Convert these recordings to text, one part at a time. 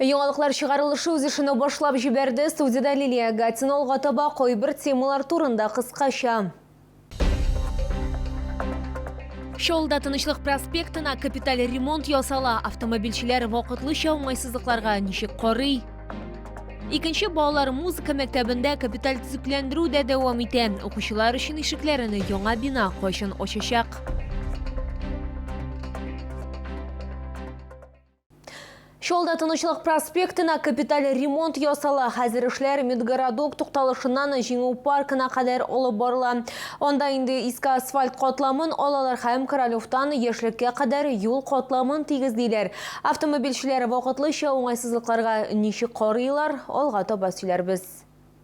Яңалыклар чыгарылышы үз эшенә башлап җибәрде. Студиядә Лилия Агатина алга таба кайбер темалар турында кыскача. Шоулда Тынычлык проспектына капиталь ремонт ясала. Автомобильчеләр вакытлыча уңайсызлыкларга ничек карый? Икенче балалар музыка мәктәбендә капиталь төзекләндерү дә дәвам итә. Укучылар өчен ишекләрен яңа бина кайчан ачачак? Шулда Тынычлык проспектына капиталь ремонт ясала. Хәзер эшләр Медгородок тукталышыннан Җиңү паркына кадәр алып барыла. Анда инде иске асфальт катламын алалар һәм Королевтан яшьлеккә кадәр юл катламын тигезлиләр. Автомобильчеләр вакытлыча уңайсызлыкларга ничек карыйлар, алга таба сөйләрбез.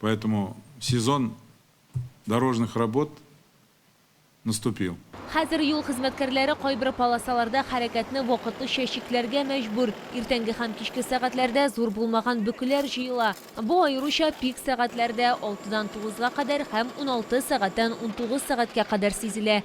Поэтому сезон дорожных работ наступил. Хәзер юл хезмәткәрләре кайбер полосаларда хәрәкәтне вакытлыча чикләргә мәҗбүр. Иртәнге һәм кичке сәгатьләрдә зур булмаган бөкеләр җыела. Бу аеруча пик сәгатьләрдә, алтыдан тугызга кадәр һәм уналты сәгатьтән унтугыз сәгатькә кадәр сизелә.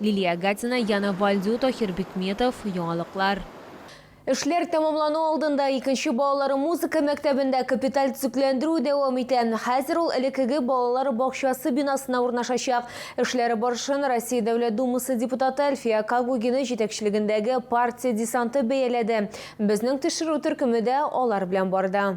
Лилия Гатина, Яна Вальдю, Таһир Бикметов, Яңалыклар. Эшләр тәмамлану алдында икенче балалар музыка мәктәбендә капиталь төзекләндерү дәвам итә. Хәзер ул элеккеге балалар бакчасы бинасына урнашачак. Эшләр барышын Россия Дәүләт Думасы депутаты Әлфия Кагугина җитәкчелегендәге партия десанты бәяләде. Безнең төшерү төркеме дә алар белән барды.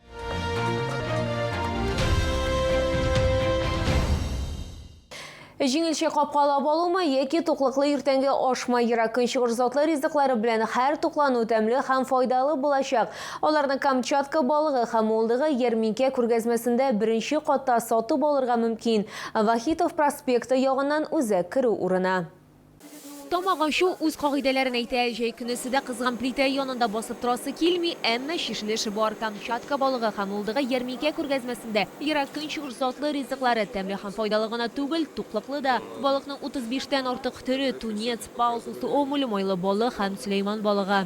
Җиңелчә капкалап алума яки туклыклы иртәнге ашма ерак көнчыгыш затлы ризыклары белән һәр туклану тәмле һәм файдалы булачак. Аларны Камчатка балыгы һәм улдыгы ярминкә күргәзмәсендә беренче катта сатып алырга мөмкин. Вахитов проспекты ягыннан үзәк керү урыны. Тамак ачу үз кагыйдәләрен әйтә. Җәй көнесе дә кызган плитә янында басып торасы килми, әмма чишеле эше бар. Камчатка балыгы һәм мылдыгы ярминкә күргәзмәсендә Ерак Көнчыгыш затлы ризыклары тәмле һәм файдалы гына түгел, туклыклы да. Балыкның 35 тән артык төре, тунец, палтус, омуль, майлы балык һәм сөләйман балыгы.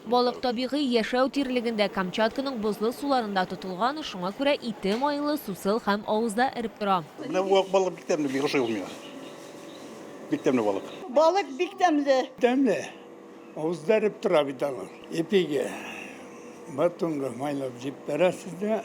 Балык табигый яшәү тирлегендә, Камчатканың бозлы суларында тотылган, шуңа күрә ите майлы, сусыл һәм авызда эреп тора. Менә бу ак балык бик тәмле, бик ошый ул миңа. Бик тәмле балык. Балык бик тәмле. Тәмле. Авызда эреп тора бит аның. Ипиге, батонга майлап җип бәрәсез дә,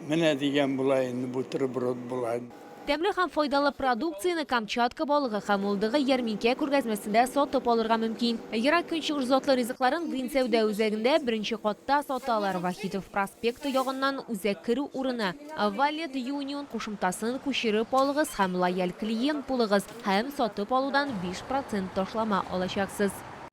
менә дигән була инде бутерброд була. Тәмле һәм файдалы продукцияне Камчатка балыгы һәм мулдыгы ярминкә күргәзмәсендә сатып алырга мөмкин. Ерак Көнчыгыш затлы ризыкларын Динсәүдә үзәгендә беренче катта саталар, Вахитов проспекты ягыннан үзәк керү урыны, Валет Юнион кушымтасын күчереп алыгыз һәм лояль клиент булыгыз һәм сатып алудан биш процент ташлама алачаксыз.